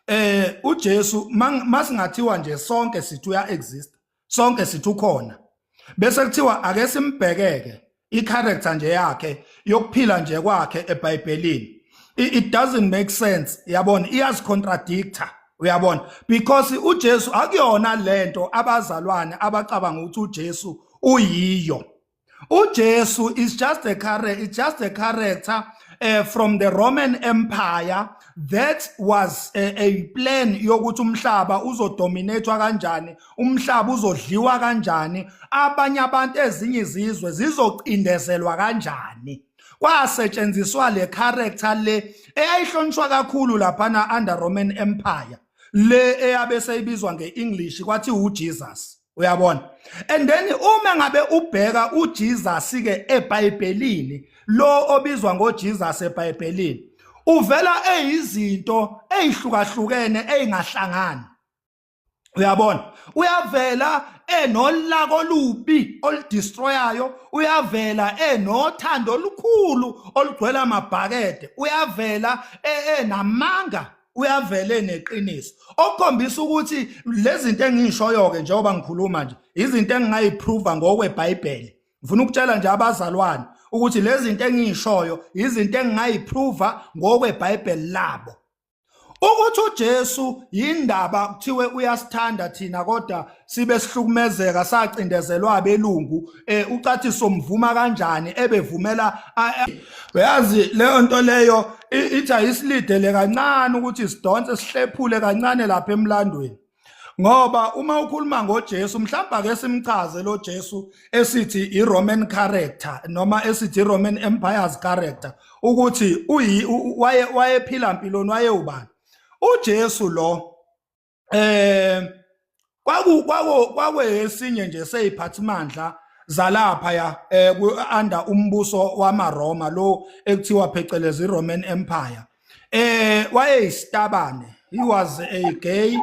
eh uJesu masingathiwa nje sonke sithi uya exist sonke sithi ukhona bese kuthiwa ake simbhekeke i-character nje yakhe yokuphila nje kwakhe eBhayibhelini it doesn't make sense yabona iyazicontradictor uyabona because uJesu akuyona lento abazalwane abacabanga ukuthi uJesu uyiyo uJesu is just a character it's just a character uh, from the Roman Empire that was a, a plan yokuthi umhlaba uzodominatwa kanjani umhlaba uzodliwa kanjani abanye abantu ezinye izizwe zizocindezelwa kanjani kwasetshenziswa le character le eyayihlonishwa kakhulu laphana under Roman Empire le eyabe seyibizwa ngeEnglish kwathi uJesus uyabona and then uma ngabe ubheka uJesus ke eBhayibhelini lo obizwa ngoJesus eBhayibhelini uvela eyizinto ezihlukahlukene ezingahlangani uyabona uyavela enolaka olubi oludestroyayo uyavela enothando olukhulu olugcwele amabhakede uyavela e, enamanga uyavele neqiniso okukhombisa ukuthi lezinto engishoyo ke njengoba ngikhuluma nje izinto engingayiprova ngokweBhayibheli ngifuna ukutshela nje abazalwane ukuthi lezinto engishoyo izinto engingayiprova ngokweBhayibheli labo ukuthi uJesu yindaba kuthiwe uyasithanda thina kodwa sibe sihlukumezeka sacindezelwa abelungu eh ucathi somvuma kanjani ebevumela uyazi leyo nto leyo ithi ayisilidele kancane ukuthi sidonse sihlephule kancane lapha emlandweni ngoba uma ukhuluma ngoJesu mhlawumbe ake simchaze lo Jesu esithi iRoman character noma esithi iRoman Empire's character ukuthi uyi waye wayephila impiloni wayewubani uJesu lo eh kwaku kwaku kwakuyesinye nje seyiphathimandla zalapha ya eh ku under umbuso wamaRoma lo ekuthiwa phecelezi Roman Empire eh wayeyisitabane he was a gay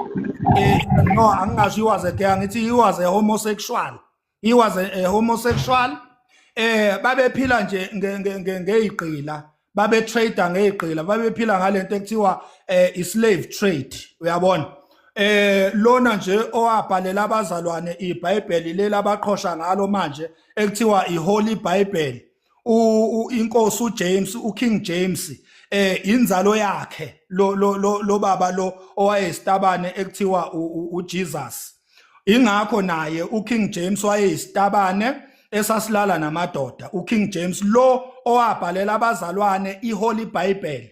eh, no angingasho he was a gay angithi he was a homosexual he was a, a homosexual eh babephila nje ngeyigqila babe trader ngeyigqila babephila ngalento ekuthiwa eh, i slave trade uyabona eh lona nje owabhalela abazalwane iBhayibheli leli abaqhosha ngalo manje ekuthiwa iHoly Bible inkosi uJames uKing James eh inzalo yakhe lo lo lo baba lo owayesitabane ekuthiwa uJesus ingakho naye uKing James wayeyisitabane esasilala namadoda uKing James lo owabhalela abazalwane iHoly Bible